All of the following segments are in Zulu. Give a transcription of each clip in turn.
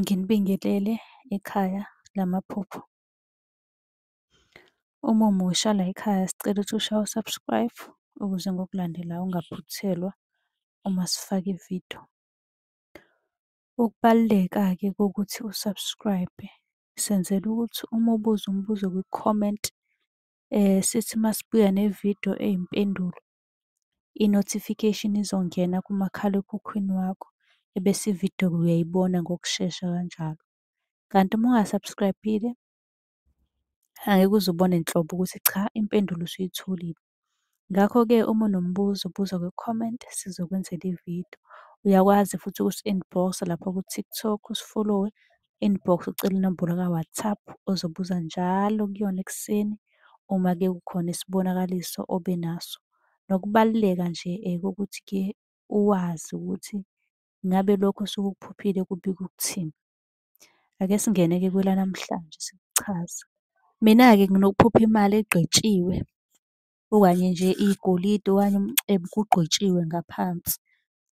Nginibingelele ekhaya lamaphupho. Uma umusha layikhaya sicela ukuthi ushaye u-subscribe ukuze ngokulandelayo ungaphuthelwa uma sifaka ividiyo. Ukubaluleka-ke kokuthi u-subscribe senzela ukuthi uma ubuza umbuzo kwi-comment sithi masibuya nevidiyo eyimpendulo i-notification izongena kumakhalekhukhwini wakho ebese ividiyo uyayibona ngokushesha kanjalo. Kanti uma unga-subscribe-ile angeke uze ubone nhlobo ukuthi cha impendulo usuyitholile. Ngakho-ke uma unombuzo buza kwi-comment sizokwenzela ividiyo. Uyakwazi futhi ukusi-inbox-a lapha ku-TikTok usifolowe inbox ucele inombolo ka-WhatsApp ozobuza njalo kuyona ekuseni uma ke kukhona isibonakaliso obe naso. Nokubaluleka nje kokuthi ke uwazi ukuthi ngabe lokho osuke ukuphuphile kubika ukuthini. Ake singene-ke kwelanamhlanje sikuchaze. Mina-ke nginokuphupha imali egqitshiwe okanye nje igolide okanye umcebo kugqitshiwe ngaphansi.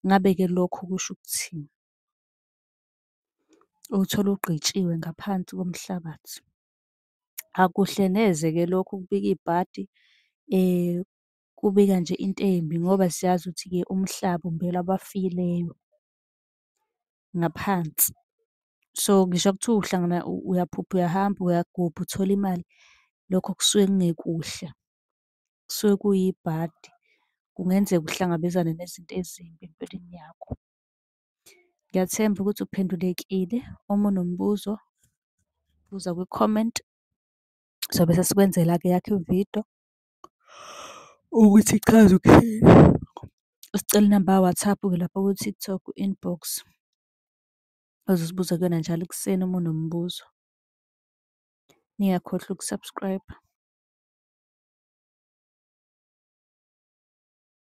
Ngabe-ke lokho kusho ukuthini? uwuthole ugqitshiwe ngaphansi komhlabathi. Akuhle neze-ke lokho ukubika ibhadi kubika nje into embi ngoba siyazi ukuthi-ke umhlaba umbelwa abafileyo ngaphansi. So, ngisho kuthiwa uhlangana uyaphupha uyahamba uyagubha uthole imali, lokho kusuke kungekuhle, kusuke kuyibhadi. Kungenzeka uhlangabezane nezinto ezimbi empilweni yakho. Ngiyathemba ukuthi uphendulekile. Uma unombuzo, buza kwi-comment. Sobe sesikwenzela-ke eyakho ividiyo ukuthi ichaza ukuthini. Usicela inamba ka-WhatsApp-ke lapha ku-TikTok inbox. Ozosibuza kuyona njalo ekuseni uma unombuzo. Ningakhohlwa uku-subscribe-a.